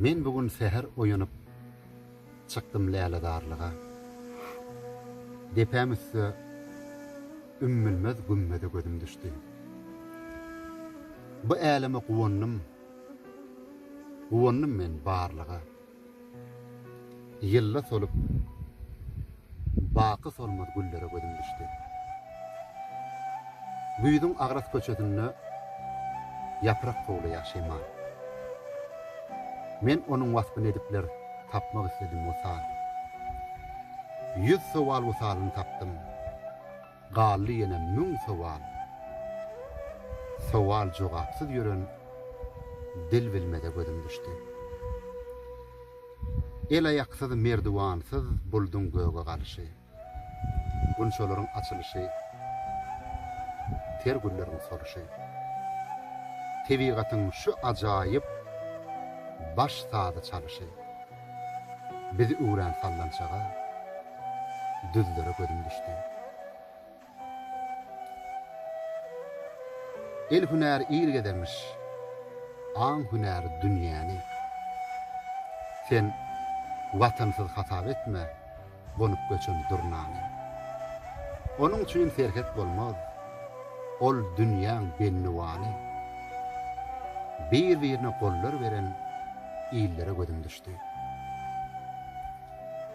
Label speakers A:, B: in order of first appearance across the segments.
A: Men bu gün säher oýanyp, çykdym läledarlyga. Depäm üstde ümmülmez gümmeze gözüm düşdi. Bu äleme guwandym, guwandym men barlyga. Ýylla solup, baky solmaz güllere gözüm düşdi. Güýzüň agras köçesinde ýaprak towlaýar şemal. Men onuň waspyny edipler tapmak isledim wysal. Ýüz sowal wysalyny tapdym. Galdy ýene müň sowal. Sowal jogapsyz ýören dil bilmeze gözüm düşdi. El-aýaksyz, merdiwansyz bulduň göge galyşy. Gunçalaryň açylyşy, ter gülleriň soluşy. Tebigatyň şu ajaýyp baş sazy çalyşy. Biz üwrän sallançaga, düzlere gözüm düşdi. El hünäri il gezermiş, aň hünäri dünýäni. Sen watansyz hasap etme, gonup göçen durnany. Onuň üçin serhet bolmaz, ol dünýäň bendiwany. Bir-birine gollar beren illere gözüm düşdi.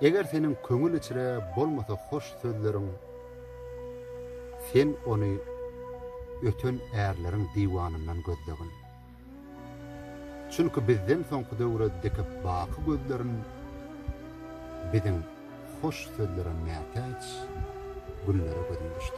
A: Eger seniň köňül içre bolmasa hoş sözleriň, sen ony öten ärleriň diwanyndan gözlegin. Çünki bizden soňky döwre dikip baky gözlerin Biziň hoş sözlere mätäç günlere gözüm düşdi.